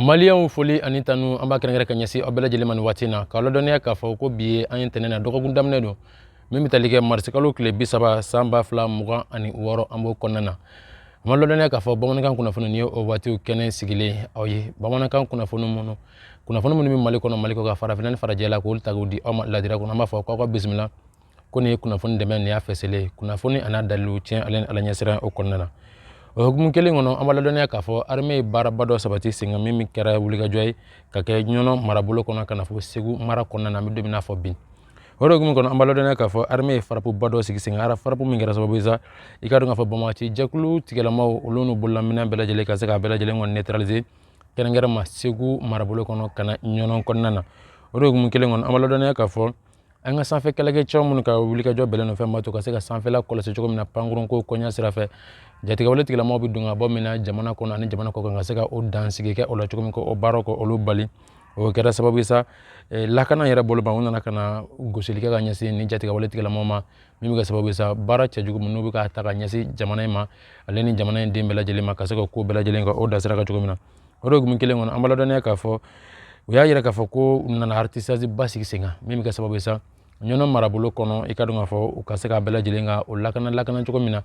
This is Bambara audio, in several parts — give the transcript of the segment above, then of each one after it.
maliyɛnw foli ani tanu an b'a kɛrɛnkɛrɛn ka ɲɛsin aw bɛɛ lajɛlen ma nin waati na k'a ladɔnniya k'a fɔ ko bi ye an ye ntɛnɛn na dɔgɔkun daminɛ don min bɛ tali kɛ marisikalo tile bi saba san ba fila mugan ani wɔɔrɔ an b'o kɔnɔna na an b'a ladɔnniya k'a fɔ bamanankan kunnafoni nin ye o waatiw kɛnɛ sigilen aw ye bamanankan kunnafoni minnu kunnafoni minnu bɛ mali kɔnɔ mali kɔ ka farafinna ni farajɛ la k'olu ta k'u di aw ma ladira kɔnɔ an b'a fɔ k'aw ka bisimila ko nin ye kunnafoni dɛmɛ nin y'a fɛsɛlen ye kunnafoni an'a dalilu tiɲɛ ale ni ala ɲɛsiran o kɔnɔna na o hukumu kelen kɔnɔ an b'a ladɔnniya k'a fɔ arme ye baaraba dɔ sabati sen kan min min kɛra wulikajɔ ye ka kɛ ɲɔnɔ marabolo kɔnɔ ka na fɔ segu mara kɔnɔna na an bɛ don min n'a fɔ bi o de hukumu kɔnɔ an b'a ladɔnniya k'a fɔ arme ye farapuba dɔ sigi sen kan ara farapu min kɛra sababu ye sa i k'a dɔn k'a fɔ banbaanci jɛkulu tigilamaw olu n'u bololaminɛn bɛɛ lajɛlen ka se k'a bɛɛ lajɛlen kɔni neutraliser kɛrɛnkɛrɛn ma segu marabolo kɔnɔ ka na ɲɔnɔ kɔnɔna na o de hukumu kelen kɔnɔ an b'a ladɔnniya k'a fɔ an ka sanfɛ kɛlɛkɛcɛw minnu ka wulikajɔ bɛlɛn don fɛn b'a to ka se ka sanfɛla kɔlɔsi cogo min na pankurunko koɲa sira fɛ jatigɛwale tigilamaw bɛ don ka bɔ min na jamana kɔnɔ ani jamana kɔ kan ka se ka o dansigi kɛ o la cogo min k'o baaraw k'olu bali o kɛra sababu ye sa eh, lakana yɛrɛ bolo ma u nana ka na gosili kɛ ka ɲɛsin nin jatigɛwale tigilamaw ma min bɛ kɛ sababu ye sa baara cɛjugu minnu bɛ ka ta ka ɲɛsin jamana in ma ale ni jamana in den bɛɛ lajɛlen ma ka se ka ko bɛɛ lajɛlen ka o dansira kɛ cogo min na o de hukumu kelen kɔnɔ an b'a ladɔnniya k'a fɔ u y'a yira k'a fɔ k'u nana ratissage ba sigi sen kan min bɛ kɛ sababu ye sa ɲɔnɔ marabolo kɔnɔ i k'a dɔn k'a fɔ u ka se k'a bɛɛ lajɛlen ka o lakana lakana cogo min na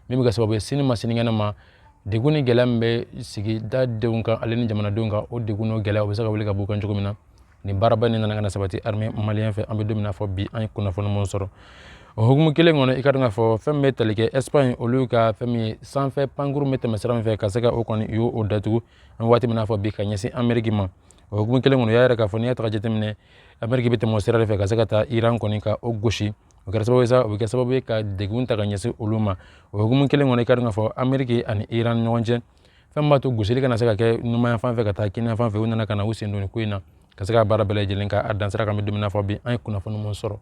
min bɛ kɛ sababu ye sini ma sinikɛnɛ ma degun ni gɛlɛya min bɛ sigidadenw kan ale ni jamanadenw kan o degun n'o gɛlɛya o bɛ se ka wuli ka b'u kan cogo min na nin baaraba in nana ka na sabati armée malien fɛ an bɛ don min na fɔ bi an ye kunnafoni minnu sɔrɔ o hukumu kelen kɔnɔ i k'a dɔn k'a fɔ fɛn bɛ tali kɛ espagne olu ka fɛn min ye sanfɛ pankurun bɛ tɛmɛ sira min fɛ ka se ka o kɔni u y'o datugu an bɛ waati min n'a fɔ bi ka ɲɛsin ameriki ma o hukumu kelen kɔnɔ u y'a yira k'a fɔ n'i y'a ta k'a jateminɛ ameriki bɛ tɛmɛ o sira de fɛ ka se ka taa iran kɔni ka o gosi o kɛra sababu ye sa o bɛ kɛ sababu ye ka degun ta ka ɲɛsin olu ma o hukumu kelen kɔnɔ i k'a dɔn k'a fɔ ameriki ani iran ɲɔgɔn cɛ fɛn b'a to gosili kana se ka kɛ numanyanfan fɛ ka taa kininyanfan fɛ u nana ka na u sen don ko in na ka se ka baara bɛɛ lajɛlen ka a dansira k'an bɛ don min na fɔ bi an ye kunnafoni minnu sɔrɔ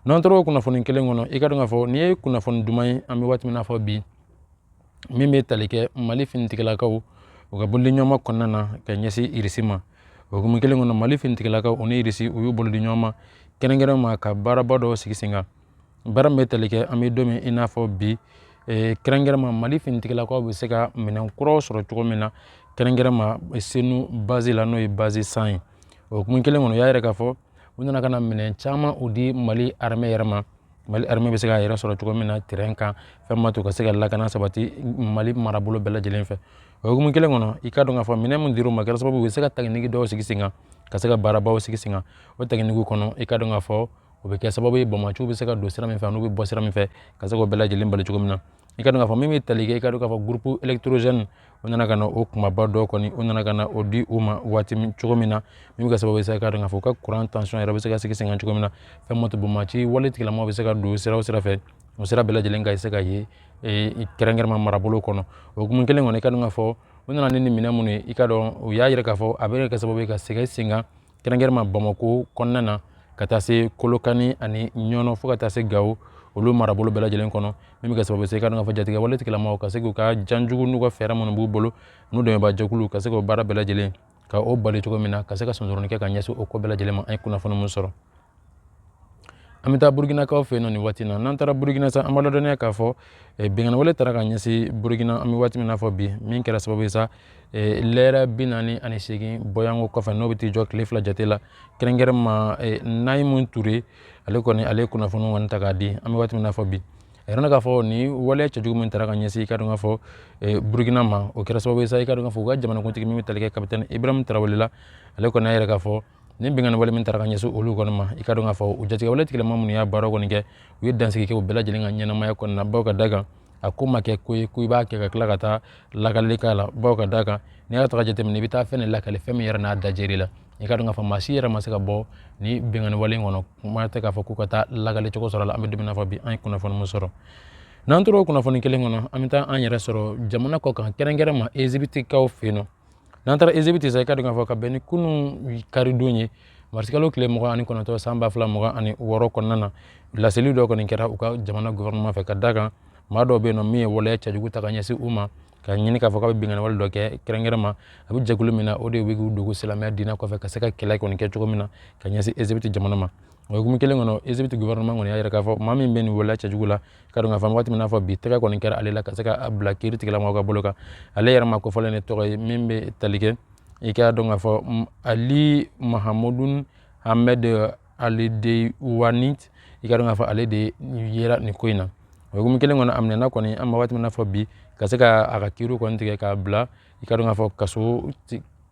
n'an tora o kunnafoni kelen kɔnɔ i k'a dɔn k'a fɔ nin ye kunnafoni duman ye an bɛ waati min na fɔ bi min bɛ tali kɛ mali finitigilakaw u ka bolodiɲɔgɔnma kɔnɔna na ka ɲɛsin irisi ma o hukumu kelen kɔnɔ mali finitigilakaw u ni irisi u y'u bolo di ɲɔgɔn ma kɛrɛnkɛrɛn ma ka baaraba dɔw sigi sen kan Baara min bɛ tali kɛ an bɛ don min i n'a fɔ bi eh, kɛrɛnkɛrɛnma mali finitigilakaw bɛ se ka minɛn kuraw sɔrɔ cogo min na kɛrɛnkɛrɛnma eh, senu baze la n'o ye baze san ye o hukumu kelen kɔnɔ u y'a yira k'a fɔ u nana ka na minɛn caman u di mali armɛ yɛrɛ ma mali armɛ bɛ se k'a yɛrɛ sɔrɔ cogo min na terɛn kan fɛn ma to ka se ka lakana sabati mali marabolo bɛɛ lajɛlen fɛ o hukumu kelen kɔnɔ i ka dɔn k'a fɔ minɛn min dir'u ma kɛra sababu u bɛ se ka taginigi dɔw sigi sen kan ka se ka baarabaw sigi sen kan o taginigiw kɔnɔ i ka dɔn k'a fɔ o bɛ kɛ sababu ye banbaanciw bɛ se ka don sira min fɛ n'u bɛ bɔ sira min fɛ ka se k'o bɛɛ lajɛlen bali cogo min na i ka dɔn k'a fɔ min bɛ tali kɛ i ka dɔn k'a fɔ groupe électrogène u nana ka na o kunbaba dɔ kɔni u nana ka na o di u ma waati cogo min na min bɛ kɛ sababu ye sa i ka dɔn k'a fɔ u ka kuran tansɔn yɛrɛ bɛ se ka sigi sen kan cogo min na fɛn ma to banbaanci wale tigilamaw bɛ se ka don sira o sira fɛ o sira bɛɛ lajɛlen ka se ka ye kɛrɛnkɛrɛnma marabolo kɔnɔ o hukumu kelen kɔnɔ i ka dɔn k'a fɔ u nana ni minɛn minnu ye i ka dɔn u y'a jira k'a fɔ a bɛ kɛ sababu ye ka sigi sen kan kɛrɛnkɛrɛnma bamakɔ kɔnɔna na ka taa se kɔlɔkani ani ɲɔnɔ fo ka taa se gawo olu marabolo bɛɛ lajɛlen kɔnɔ min bɛ kɛ sababu ye sa i ka dɔn k'a fɔ jatigɛwale tigilamaw ka se k'u ka janjugu n'u ka fɛɛrɛ minnu b'u bolo n'u dɛmɛbaa jɛkulu ka se k'o baara bɛɛ lajɛlen ka o bali cogo min na ka se ka sonsoroni kɛ ka ɲɛsin o ko bɛɛ lajɛlen ma an ye kunnafoni min sɔrɔ an bɛ taa burukinakaw fɛ yen nɔ nin waati na n'an taara burukina sa an b'a ladɔnniya k'a fɔ eh, binkanniwale taara ka ɲɛsin burukina an bɛ waati min na fɔ bi min kɛra sababu ye sa eh, lɛrɛ bi naani ani seegin bɔyanko kɔfɛ n'o bɛ t'i jɔ tile fila jate la kɛrɛnkɛrɛn ma eh, nayimu ture ale kɔni ale ye kunnafoni kɔni ta k'a di an bɛ waati min na fɔ bi a yira k'a fɔ nin waleya cɛjugu min taara ka ɲɛsin i ka dɔn k'a fɔ burukina ma o kɛra sababu ye sa i ka dɔn k'a fɔ u ka jamanakuntigi min bɛ tali kɛ kapitɛni ibrahim tarawele la ale kɔni y'a yira k'a fɔ nin binkanni wale min taara ka ɲɛsin olu kɔni ma i ka dɔn k'a fɔ u jatigɛwale tigilama minnu y'a baara kɔni kɛ u ye dansigi kɛ u bɛɛ lajɛlen ka ɲɛnamaya kɔni na baw ka da kan a ko ma kɛ ko ye ko i b'a kɛ ka tila ka taa lakalili k'a la baw ka da kan n'i y'a ta ka jateminɛ i bɛ taa fɛn de lakali fɛn min yɛrɛ n'a dajɛr'i la i ka dɔn k'a fɔ maa si yɛrɛ ma se ka bɔ nin binkanni wale kɔnɔ kuma tɛ k'a fɔ k'u ka taa lakali cogo sɔrɔ la an bɛ don min na fɔ bi an ye kunnafoni min sɔrɔ n'an tora o kunnafoni kelen kɔnɔ an bɛ taa an yɛrɛ sɔrɔ jamana kɔ kan kɛrɛnkɛrɛn ma ezibitikaw fɛ yen nɔ n'an taara ezibiti sa i ka dɔn k'a fɔ ka bɛn ni kunun karidon ye marisikalo tile mugan ani kɔnɔntɔn san ba fila mugan ani wɔɔrɔ kɔnɔna na laseli dɔ kɔni kɛra u ka jamana gɔfɛrɛnaman fɛ ka da kan maa dɔw bɛ yen nɔ min ye waleya cɛjugu ta ka ɲɛsin u ma ka ɲini k'a fɔ k'a bɛ binkanniwale dɔ kɛ kɛrɛnkɛrɛn ma a bɛ jɛkulu min na o de bɛ k'u dogo silamɛya diinɛ kɔfɛ ka se ka kɛlɛ kɔni kɛ cogo min na ka ɲɛsin ezibiti jamana ma o hukumu kelen kɔnɔ ezibiti gɔfɛrɛnaman kɔni y'a jira k'a fɔ maa min bɛ nin waleya cɛjugu la ka dɔn k'a fɔ waati min n'a fɔ bi tɛgɛ kɔni kɛra ale la ka se ka bila kiri tigilamaw ka bolo kan ale yɛrɛ maa kofɔlen nin tɔgɔ ye min bɛ tali kɛ i k'a dɔn k'a fɔ ali mahamudun hamɛd ali de wani i ka dɔn k'a fɔ ale de yera nin ko in na o hukumu kelen kɔnɔ a minɛna kɔni an bɛ waati min na fɔ bi ka se ka a ka kiriw kɔni tigɛ k'a bila i ka dɔn k'a fɔ kaso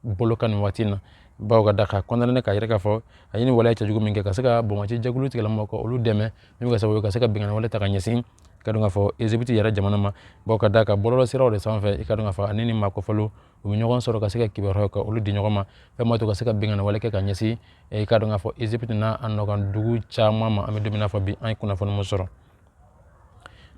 bolo kan nin waati na baw ka da ka condamné k'a yira k'a fɔ a ye nin waleya cɛjugu min kɛ ka se ka banbaanci jɛkulu tigilamɔgɔw ka olu dɛmɛ min bɛ kɛ sababu ye ka se ka binkanni wale ta ka ɲɛsin ka dɔn k'a fɔ ezibiti yɛrɛ jamana ma baw ka da kan bɔlɔlɔ siraw de sanfɛ i ka dɔn k'a fɔ ani ni maa kofɔlenw u bɛ ɲɔgɔn sɔrɔ ka se ka kibaruyaw ka olu di ɲɔgɔn ma fɛn min b'a to ka se ka binkanni wale kɛ ka ɲɛsin i ka dɔn k'a fɔ ezibiti n'a nɔkan dugu caman ma an bɛ don min na fɔ bi an ye kunnafoni min sɔrɔ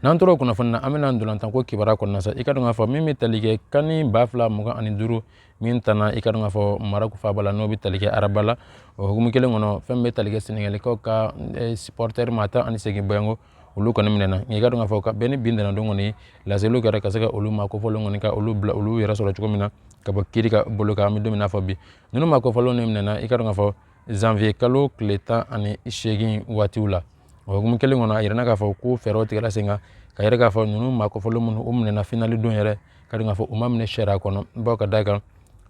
n'an tora o kunnafoni na an bɛ na ntolatan ko kibaruya kɔnɔna sa i ka dɔn k'a fɔ min bɛ tali kɛ CAN ba fila mugan ani duuru min tanna i ka dɔn k'a fɔ maraku faaba la n'o bɛ tali kɛ araba la o hukumu kelen kɔnɔ fɛn bɛ tali kɛ senegalikaw ka eh, supɔrtɛri maa tan ani seegin bɔɲɔgɔnko olu kɔni minɛna i ka dɔn k'a fɔ ka bɛn ni bi ntɛnɛn don kɔni laseliw kɛra ka se ka olu maa kofɔlenw kɔni ka olu bila olu yɛrɛ sɔrɔ cogo min na ka bɔ kiri ka bolo kan an bɛ don min na fɔ bi ninnu maa kofɔlenw minɛna i ka dɔn k'a fɔ zanfiye kalo tile tan ani seegin waatiw la o hukumu kelen kɔnɔ a yirana k'a fɔ ko fɛɛrɛw tigɛra sen kan k'a yira k'a fɔ ninnu maa kofɔlen minnu u minɛna finali don yɛrɛ ka dɔn k'a fɔ u ma minɛ sariya kɔnɔ baw ka da kan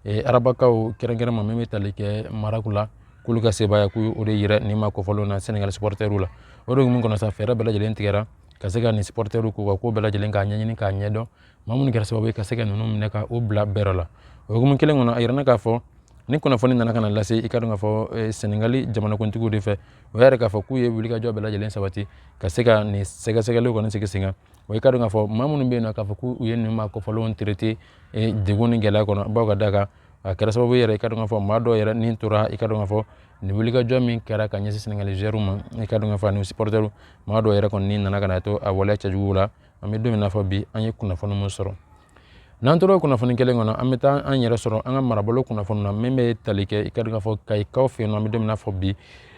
arabakaw kɛrɛnkɛrɛn ma min bɛ tali kɛ maraku la k'olu ka sebaaya ko o de yira nin maa kofɔlenw na senegali supɔrtɛriw la o de hukumu kɔnɔ fɛɛrɛ bɛɛ lajɛlen tigɛra ka se ka nin supɔrtɛriw k'u ka ko bɛɛ lajɛlen k'a ɲɛɲini k'a ɲɛdɔn maa minnu kɛra sababu ye ka se ka ninnu minɛ ka u bila bɛrɛ la o hukumu kelen kɔnɔ a yirana k'a fɔ ni kunnafoni nana ka na lase i ka dɔn k'a fɔ eh, senegali jamanakuntigiw de fɛ u y'a yira k'a fɔ k'u ye wulikajɔ bɛɛ lajɛlen sabati ka se ka nin sɛgɛsɛgɛliw kɔni sigi sen kan wa i ka dɔn k'a fɔ maa minnu bɛ yen nɔ k'a fɔ k'u ye nin maa kofɔlenw traité eh, degun ni gɛlɛya kɔnɔ baw ka da kan a kɛra sababu yɛrɛ i ka dɔn k'a fɔ maa dɔw yɛrɛ ni tora i ka dɔn k'a fɔ nin wulikajɔ min kɛra ka ɲɛsin senegali zuwɛriw ma i ka dɔn k'a fɔ ani supɔrtɛriw maa dɔw yɛrɛ kɔni ni nana ka na to a waleya cɛjuguw la an bɛ don min na fɔ bi an ye kunnafoni min sɔrɔ n'an tora o kunnafoni kelen kɔnɔ an bɛ taa an yɛrɛ sɔrɔ an ka marabolo kunnafoni na min bɛ tali kɛ i ka dɔn k'a fɔ kayikaw fɛ yen nɔ an bɛ don min na fɔ bi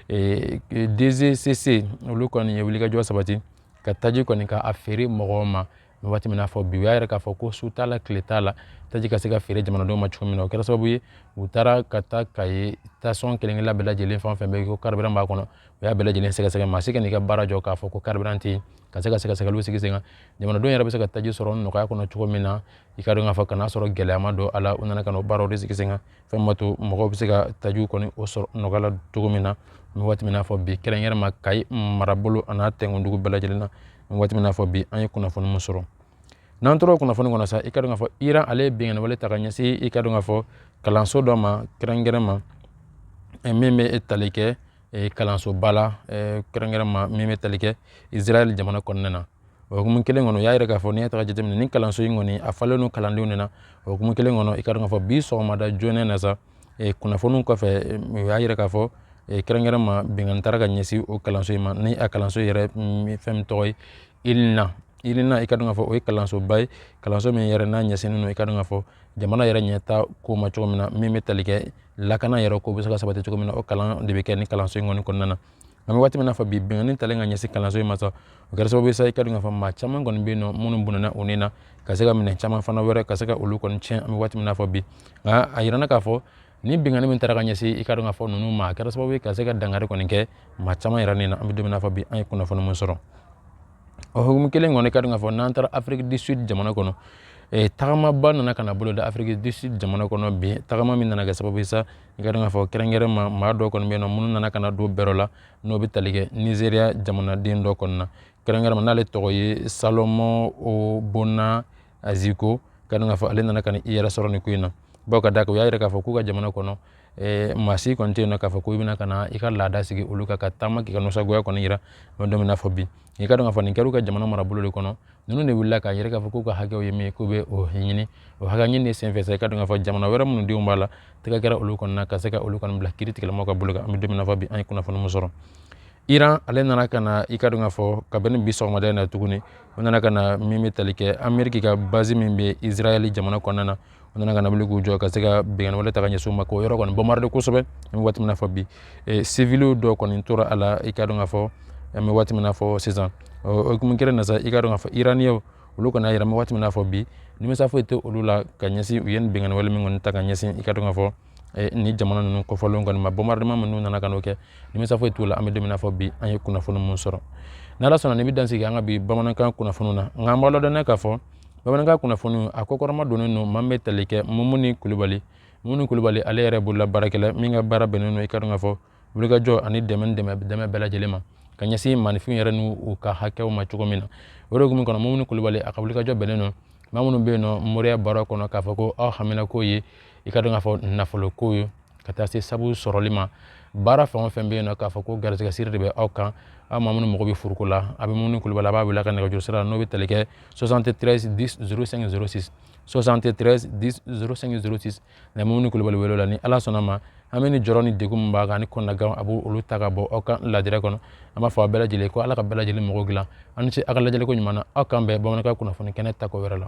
eh, DGCC olu kɔni ye wulikajɔ sabati ka taji kɔni k'a feere mɔgɔw ma waati min na fɔ bi u y'a yira k'a fɔ ko su t'a la tile t'a la taji ka se ka feere jamanadenw ma cogo min na o kɛra sababu ye u taara ka taa kayi sitasɔn kelen-kelen bɛɛ lajɛlen fɛn o fɛn bɛ yen ko karibiran b'a kɔnɔ u y'a bɛɛ lajɛlen sɛgɛsɛgɛ maa si kana i ka baara jɔ k'a fɔ ko karibiran tɛ yen ka se ka sɛgɛsɛgɛliw sigi sen kan jamanadenw yɛrɛ bɛ se ka taji sɔrɔ nɔgɔya kɔnɔ cogo min na i ka dɔn k'a fɔ ka n'a sɔrɔ gɛlɛya ma don a la u nana ka n'o baaraw de sigi sen kan fɛn min b'a to mɔgɔw bɛ se ka tajiw kɔni o sɔrɔ nɔgɔya la cogo min na an bɛ waati min na fɔ bi kɛrɛnkɛrɛn ma kayi marabolo an'a tɛnkundugu bɛɛ lajɛlen na an bɛ waati min na fɔ bi an ye kunnafoni min sɔrɔ n'an tora o kunnafoni kɔnɔ sa i ka dɔn k'a fɔ iran ale ye binkanniwale ta ka ɲɛsin i ka dɔn k'a fɔ kalanso dɔ ma kɛrɛnkɛrɛn ma min bɛ tali kɛ eh, kalansoba la eh, kɛrɛnkɛrɛn ma min bɛ tali kɛ israɛl jamana kɔnɔna na o hukumu kelen kɔnɔ u y'a yira k'a fɔ n'i y'a ta k'a jateminɛ ni kalanso in kɔni a falen don kalandenw de na o hukumu kelen kɔnɔ i ka dɔn k'a fɔ bi sɔgɔmada joona na sa eh, kunnafoniw kɔfɛ u y'a yira k'a fɔ kɛrɛnkɛrɛn ma binkanni tara ka ɲɛsin o kalanso in ma ni a kalanso yɛrɛ mm, fɛn min tɔgɔ ye ilina ilina i ka dɔn k'a fɔ o ye kalansoba ye kalanso min yɛrɛ n'a ɲɛsinnen don i ka dɔn k'a fɔ jamana yɛrɛ ɲɛta ko ma cogo min na min bɛ tali kɛ lakana yɛrɛ ko bɛ se ka sabati cogo min na o kalan de bɛ kɛ ni kalanso in kɔni kɔnɔna na an bɛ waati min na fɔ bi binkanni talen ka ɲɛsin kalanso in ma sa o kɛra sababu ye sa i ka dɔn k'a fɔ maa caman kɔni bɛ yen nɔ minnu bɔnɛna u ni na ka se ka minɛn caman fana wɛrɛ ka se ka olu kɔni tiɲɛ an bɛ waati min na fɔ bi nka a yirana k'a fɔ ni binkanni min taara ka ɲɛsin i ka dɔn k'a fɔ ninnu ma a kɛra sababu ye ka se ka dankari kɔni kɛ maa caman yɛrɛ ni na an bɛ don min na fɔ bi an ye kunnafoni mun sɔrɔ o hukumu kelen kɔnɔ i ka dɔn k'a fɔ n'an taara afiriki du sud jamana kɔnɔ e, tagamaba nana ka na bolo da afiriki du sud jamana kɔnɔ bi tagama min nana kɛ sababu ye sa i ka dɔn k'a fɔ kɛrɛnkɛrɛn ma maa dɔw kɔni bɛ yen nɔ minnu nana ka na don bɛrɛ la n'o bɛ tali kɛ nizeriya jamanaden dɔ kɔni na kɛrɛnkɛrɛn ma n'ale tɔgɔ ye salomɔn obona aziko ka dɔn k'a fɔ ale nana ka i yɛrɛ sɔrɔ nin ko in na bawo k'a da kan u y'a yira k'a fɔ k'u ka jamana kɔnɔ eh, maa si kɔni tɛ yen nɔ k'a fɔ ko i bɛna ka na i ka laada sigi olu kan ka taama k'i ka nisɔngoya kɔni yira an bɛ don min na fɔ bi i ka dɔn k'a fɔ nin kɛra u ka jamana marabolo de kɔnɔ ninnu de wulila k'a yira k'a fɔ k'u ka hakɛw ye min ye k'u bɛ o ɲini o hakɛ ɲini de senfɛ sa i ka dɔn k'a fɔ jamana wɛrɛ minnu denw b'a la tɛgɛ kɛra olu kɔnɔna ka se ka olu kɔni bila kiri tigɛlamaw ka bolo kan an bɛ don min na fɔ bi an ye kunnafoni min sɔrɔ iran ale nana ka na i ka dɔn k'a fɔ kabini bi sɔgɔmada in na tuguni u nana ka na min bɛ tali kɛ ameriki ka basi min bɛ israɛli jamana kɔnɔna na u nana ka na wuli k'u jɔ ka se ka binkanni wale ta ka ɲɛsin u ma k'o yɔrɔ kɔni bombarder kosɛbɛ an bɛ waati min na fɔ bi sivili dɔw kɔni tora a la i ka dɔn k'a fɔ an bɛ waati min na fɔ sisan o hukumu kelen na sa i ka dɔn k'a fɔ iraniyɛnw olu kɔni y'a yira an bɛ waati min na fɔ bi nimisa foyi tɛ olu la ka ɲɛsin u ye nin binkanni wale min kɔni ta ka ɲɛsin i ka dɔn k'a fɔ eh, ni jamana ninnu kofɔlen kɔni ma bombardement minnu nana ka n'o kɛ nimisa foyi t'u la an bɛ don min na fɔ bi an ye kunnafoni minnu sɔrɔ n'ala sɔnna nin bɛ dan sigi an ka bi bamanankan kunnafoniw na nka an b'a ladɔnniya k'a fɔ bamanankan kunnafoniw a kɔkɔrɔma donnen don maa min bɛ tali kɛ mumuni kulubali mumuni kulubali ale yɛrɛ bolola baarakɛla min ka baara bɛnnen don i ka dɔn k'a fɔ wulikajɔ ani dɛmɛ dɛmɛ dɛmɛ bɛɛ lajɛlen ma ka ɲɛsin maaninfin yɛrɛ ni u ka hakɛw ma cogo min na o de hukumu kɔnɔ mumuni kulubali a ka wulikajɔ bɛnnen don maa minnu bɛ yen nɔ moriya baara kɔnɔ k'a fɔ ko aw hamina ko ye i ka dɔn k'a fɔ nafolo ko ye ka taa se sabu sɔrɔli ma baara fɛn o fɛn bɛ yen nɔ k'a fɔ ko garisɛgɛ siri de bɛ aw kan aw maa minnu mago bɛ furuko la aw bɛ mumuni kulubali aw b'a wele a ka nɛgɛjuru sira n'o bɛ tali kɛ 73 10 05 06 73 10 05 06 na mumuni kulubali wele o la ni ala sɔnna a ma aw bɛ ni jɔrɔ ni degun min b'aw kan ni kɔnɔnagan a b'o olu ta ka bɔ aw ka laadira kɔnɔ an b'a fɔ aw bɛɛ lajɛlen ko ala ka bɛɛ lajɛlen mago dilan aw ni ce aw ka lajɛliko ɲuman na aw k'an bɛn bamanankan kunnafoni kɛnɛ ta ko wɛrɛ la